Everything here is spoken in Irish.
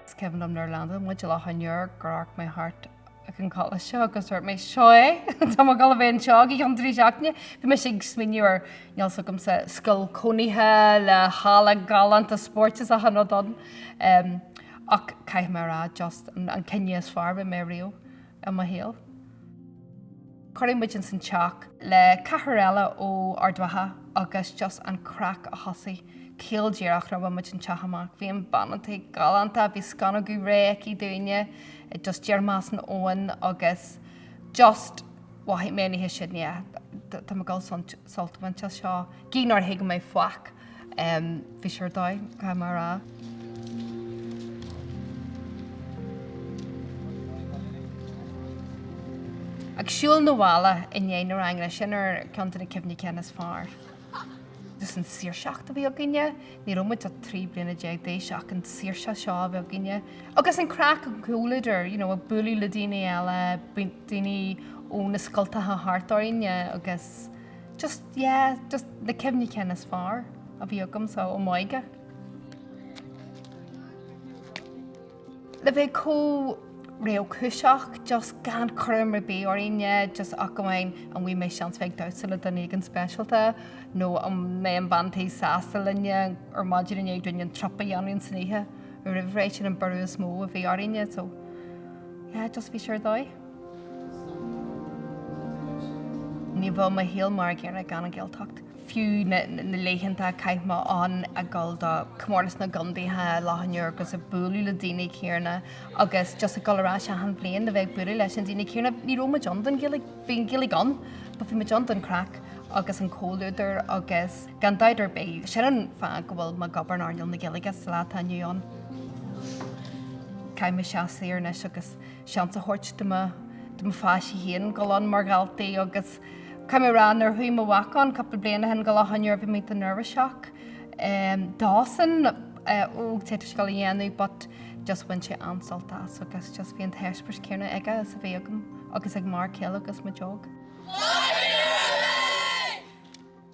Is cuimhin liom nuair a landáil muid i Loch an Iúir gur amharc mé thart ag an coláiste agus dúirt mé 'seo é, tá mé ag dul a bheith anseo go cionn trí seachtaine'. Bhí mise ag smaoineamh ar, níl a fhios agamsa, scoil cónaithe le halla galánta spóirt is achan rud ann. Ach caithfidh mé a rá, just an cinneadh is fearr a rinne mé ariamh. i mo shaol. Cuireadh muid ins an teach le ceathrar eile ó Ard Mhacha agus just an craic a thosaigh caol díreach nuair a chuaigh muid an teach amach. Bhí an bean an tí galánta, bhí sconnóga réidh aici dúinne, just díreach as an oigheann agus just mhothaigh mé an oíche sin, yeah, tá mé ag dul sult a bhaint as seo, gidh nár thuig mé faic. Bhí sé ar dóigh, caithfidh mé a rá. Ag siúl na bhaile i ndiaidh na ranganna, sin ar cheann de na cuimhní cinn is fearr. Agus an tsaoirseacht a bhí againne, ní raibh muid ach trí bliana déag d'aois, ach an tsaoirse seo a bhí againne. Agus an craic, an comhluadar, you know, ag bualadh le daoine eile, daoine ó na scoltacha thart orainn agus. Just, yeah, just na cuimhní cinn is fearr a bhí agam, so, ó m'óige. Le bheith comh réchúiseach, just gan cúram ar bith orainne, just ach amháin an bhfaighidh mé seans bheith ag damhsa le duine éigin speisialta, nó an mbeidh an bhean tí sásta linne ar maidin i ndiaidh dúinn an trup a dhéanamh ins an oíche roimh ré, sin an buaireamh is mó a bhí orainne, so, yeah, just bhí sé ar dóigh. Ní bheadh mo shaol mar a gcéanna gan an Ghaeltacht. Fiú na laethanta a chaith mé ann ag dul do Chomórtas na gContaetha Loch an Iúir agus ag bualadh le daoine céanna agus just ag dul ar ais achan bhliain le bheith ag bualadh leis na daoine céanna, ní raibh muid ann don, bhí an Ghaeilge ann but bhí muid ann don chraic agus an comhluadar agus gan dabht ar bith, sin an fáth go bhfuil mé ag obair in earnáil na Gaeilge sa lá atá inniu ann. Caithfidh mé seasamh siar anois agus. seans a thabhairt do mo pháistí féin dul ann mar dhaltaí agus caithfidh mé a rá nuair a chuaigh mo mhac ann cúpla bliain ó shin go Loch an Iúir bhí mé an-neirbhíseach dósan ó cad é atá sé ag dul a dhéanamh but just bhain sé an-sult as agus just bhí an t-eispéireas céanna aige is a bhí agam agus ag m'fhear céile agus muid óg.